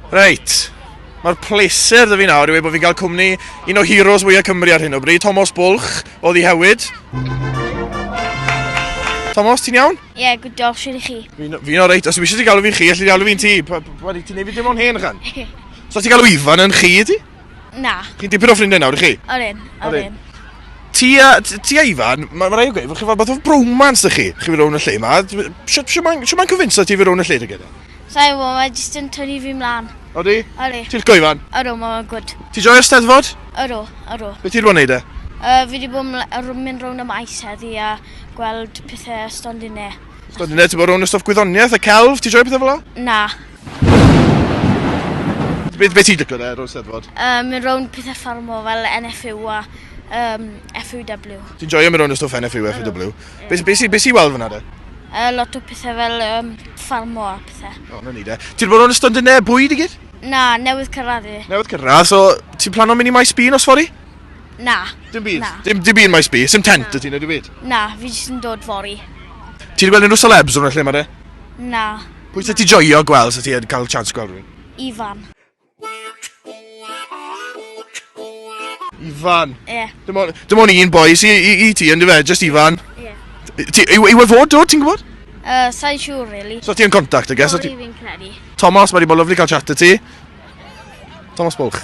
Reit, mae'r pleser da fi nawr i wedi bod fi'n cael cwmni un o heroes fwyaf Cymru ar hyn o bryd, Tomos Bwlch o Ddihewyd. Tomos, ti'n iawn? Ie, yeah, good job, siwr i chi. Fi'n fi o reit, os eisiau ti galw fi'n chi, allu ti galw fi'n ti. Wedi ti'n neud fi dim ond hen ychan. so ti'n galw Ifan yn chi, ydy? Na. Chi'n dipyn o ffrindiau nawr, i chi? O'r un, o'r un. Ti a, ti a Ifan, mae ma rai o gweud, chi'n fath o bromance dy chi, chi fi rown y lle yma. Siwt mae'n cyfynso ti fi rown y lle dy gyda? Sa i'n gwbod, mae jyst yn tynnu fi mlan. Odi? Odi. Ti'n licio Ifan? Ydw, mae fe'n gwd. Ti'n joio'r Steddfod? Ydw, ydw. Be ti wedi bod yn neud e? Uh, fi wedi bod yn mynd rownd y maes heddi a gweld pethau stondinau. Stondinau, ti'n bod rownd y stwff gwyddoniaeth, y celf, ti'n joio pethau fel o? Na. Be, be ti'n licio e, rownd Steddfod? Uh, mynd rownd pethau ffarmo fel NFU a um, FUW. Ti'n joio mynd rownd y stwff NFU a FUW? Be, be, be, be sy'n weld fyna de? Uh, lot o pethau fel um, ffarmo a pethau. O, oh, na ni de. Ti'n bod o'n ystod yn e bwyd i gyd? Na, newydd cyrraedd i. Newydd cyrraedd, so ti'n plan o'n mynd i maes bîn os fori? Na. Dim byd? Na. Dim, dim byd maes bîn? Sim tent y ti'n edrych byd? Na, fi jyst yn dod fori. Ti'n gweld unrhyw celebs o'n lle yma de? Na. Pwy sy'n ti joio gweld sy'n ti'n cael chance gweld rhywun? Ifan. Ifan. Ie. Dim on- dim on' un boi sy i i ti yndyfe? Jyst Ifan? Ie. T- ti yw yw e fod dod ti'n gwbod? Yy sai'n siŵr rili. So ti yn contact I guess so ti... fi'n credu. Tomos mae 'di bod lyfli cael chat 'da ti. Tomos Bwlch.